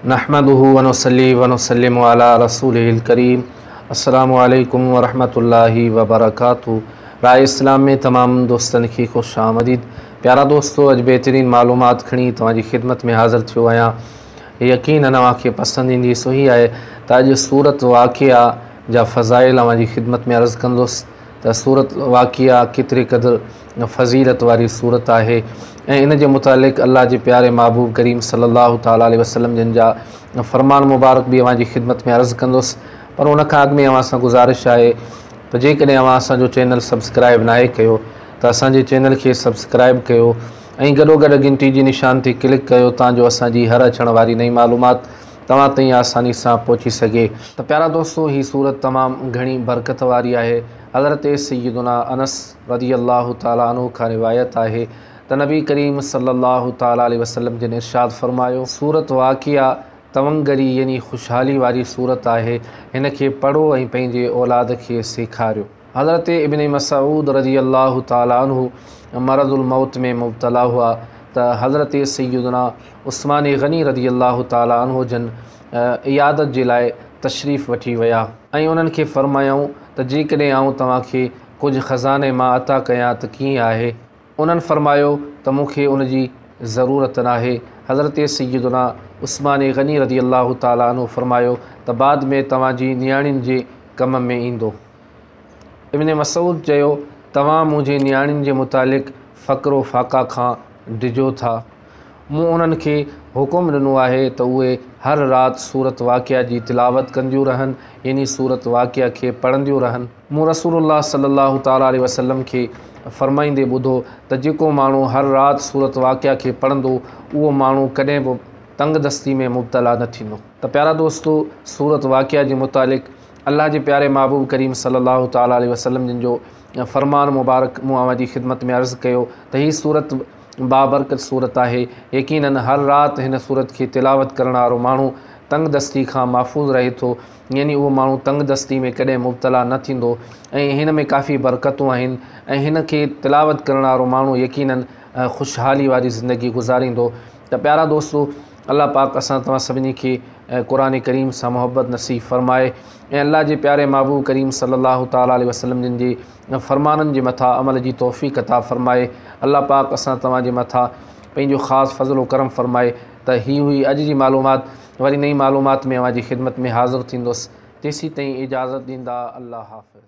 نحمده ونصلي ونسلم علي رسوله الڪريم السلام عليڪم ورحمة الله وبرڪاته راء اسلام ۾ تمام دوستن کي خوش آمديد پيارا دوستو اڄ بهترين معلومات کڻي توهان جي خدمت ۾ حاضر ٿيو آهيان يقينا اوهان کي پسند ايندي سو هي آهي ته اڄ سورت واقعا جا فضائل اوهان جي خدمت ۾ عرض ڪندس ته سورة واقعه ڪيتري قدر فضيلت واري سورت آهي ۽ ان جي متعلق الله جي پياري محبوب ڪريم صلي الله تعالٰي عليه وسلم جن جا فرمان مبارڪ به اوهان جي خدمت ۾ عرض ڪندس پر ان کان اڳ ۾ اوهان سان گذارش آهي ته جيڪڏهن اوهان اسان جو چينل سبسڪرائب ناهي ڪيو ته اسان جي چينل کي سبسڪرائب ڪيو ۽ گڏوگڏ گهنٽي جي نشان تي ڪلڪ ڪيو تان جو اسان جي هر اچڻ واري نئين معلومات توهان تائين آساني سان پهچي سگهي. ته پيارا دوستو هي سورت تمام گهڻي برڪت واري آهي حضرت سيدنا انس رضي الله تعالٰي عنه کان روايت آهي ته نبي ڪريم صلي الله تعالٰي عليه وسلم جن ارشاد فرمايو سورت واقعا تونگري يعني خوشحالي واري سورت آهي هن کي پڙهو ۽ پنهنجي اولاد کي سيکاريو. حضرت ابن مسعود رضي الله تعالٰي عنه مرض الموت ۾ مبتلا هئا ته حضرت سيدنا عثمان غني رضي الله تعالٰي عنه جن عيادت جي لاء تشريف وٺي ويا ۽ انهن کي فرمايائون ته جيڪڏهن آئون توهان کي ڪجهه خزاني مان عطا ڪيان ته ڪيئن آهي؟ انهن فرمايو ته مون کي ان جي ضرورت ناهي. حضرت سيدنا عثمان غني رضي الله تعالٰي عنه فرمايو ته بعد ۾ توهان جي نياڻين جي ڪم ۾ ايندو. ابن مسعود چيو، توهان منهنجي نياڻين جي متعلق فقر و فاقه کان ڊڄو ٿا؟ مون انهن کي حڪم ڏنو آهي ته اهي هر رات سورة واقعة جي تلاوت ڪنديون رهن يعني سورة واقعة کي پڙهنديون رهن. مون رسول الله صلي الله تعالٰي عليه وسلم کي فرمائيندي ٻڌو ته جيڪو ماڻهو هر رات سورة واقعة کي پڙهندو، اهو ماڻهو ڪڏهن به تنگدستي ۾ مبتلا نه ٿيندو. ته پيارا دوستو! سورة واقعة جي متعلق الله جي پياري محبوب ڪريم صلّي الله تعالٰي عليه وسلّم جن جو فرمان مبارڪ مون اوهان جي خدمت ۾ عرض ڪيو ته هي سورت بابرڪت سورت آهي، يقيناً هر رات هن سورت کي تلاوت ڪرڻ وارو ماڻهو تنگ دستي کان محفوظ رهي ٿو، يعني اهو ماڻهو تنگ دستي ۾ ڪڏهن مبتلا نه ٿيندو ۽ هن ۾ ڪافي برڪتون آهن ۽ هن کي تلاوت ڪرڻ وارو ماڻهو يقيناً خوشحالي واري زندگي گذاريندو ته پيارا دوستو! الله پاڪ اسان توهان سڀني کي قرآن ڪريم سان محبت نصيب فرمائي ۽ الله جي پياري محبوب ڪريم صلي الله تعالٰي عليه وسلم جن جي فرمانن جي مٿا عمل جي توفيق عطا فرمائي الله پاڪ اسان توهان جي مٿا پنهنجو خاص فضل و کرم فرمائي ته هي هئي اڄ جي معلومات وري نئين معلومات ۾ اوهان جي خدمت ۾ حاضر ٿيندس تيسين تائين اجازت ڏيندا الله حافظ.